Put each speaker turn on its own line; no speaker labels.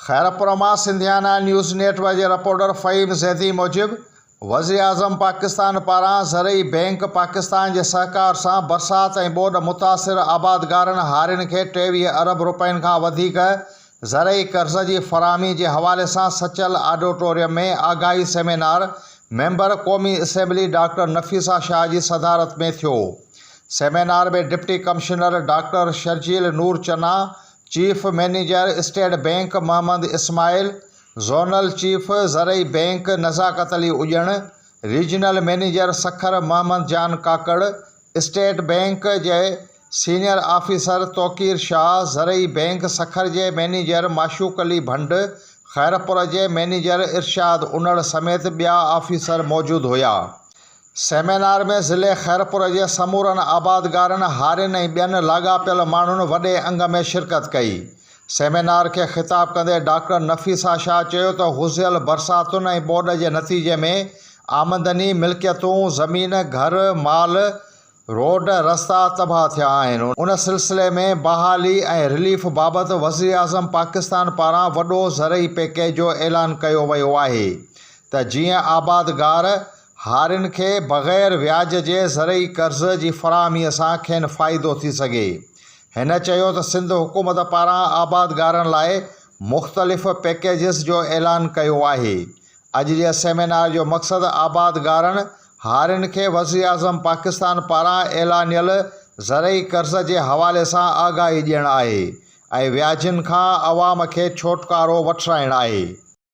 خيرپور مان Sindhiana news network جي reporter Faheem Zaidi موجب وزيراعظم پاڪستان پاران زرعي بئنڪ پاڪستان جي سهڪار سان برسات ۽ ٻوڏ متاثر آبادگارن هارين کي ٽيويهه ارب رپين کان وڌيڪ زرعي قرض جي فراهمي جي حوالي سان سچل آڊوٽوريم ۾ آگاهي سيمينار ميمبر قومي اسيمبلي ڊاڪٽر نفيسه شاهه جي صدارت ۾ ٿيو. Seminar ۾ deputy commissioner doctor Sharjeel Noor Channa, chief manager state bank Muhammad Ismail, zonal chief زرعي bank Nazakat Ali Ujjan, regional manager Sukkur Muhammad Jan Kakar, state bank جي سينيئر آفيسر توقير شاهه، زرعي بئنڪ سکر جي مئنيجر معشوق علي ڀنڊ، خيرپور جي مئنيجر ارشاد انڙ سميت ٻيا آفيسر موجود هيا. سيمينار ۾ ضلعي خيرپور جي سمورن آبادگارن، هارين ۽ ٻين لاڳاپيل ماڻهن وڏي انگ ۾ شرڪت ڪئي. سيمينار کي خطاب ڪندي ڊاڪٽر نفيسه شاهه چيو ته هوزيل برساتن ۽ ٻوڏ جي نتيجي ۾ آمدني، ملڪيتون، زمين، گهر، مال، روڊ رستا تباهه ٿيا آهن، ان سلسلي ۾ بحالي ۽ رليف بابت وزيراعظم پاڪستان پاران وڏو زرعي پيڪيج جو اعلان ڪيو ويو آهي ته جيئن آبادگار هارين کي بغير وياج جي زرعي قرض جي فراهمي سان کين فائدو ٿي سگهي، هن چيو ته سنڌ حڪومت پاران آبادگارن لاء مختلف پيڪيجز جو اعلان ڪيو آهي، اڄ جي سيمينار جو مقصد آبادگارن هارين کي وزيراعظم پاڪستان پاران اعلانيل زرعي قرض جي حوالي سان آگاهي ڏيڻ آهي ۽ وياجن کان عوام کي ڇوٽڪارو وٺرائڻ آهي.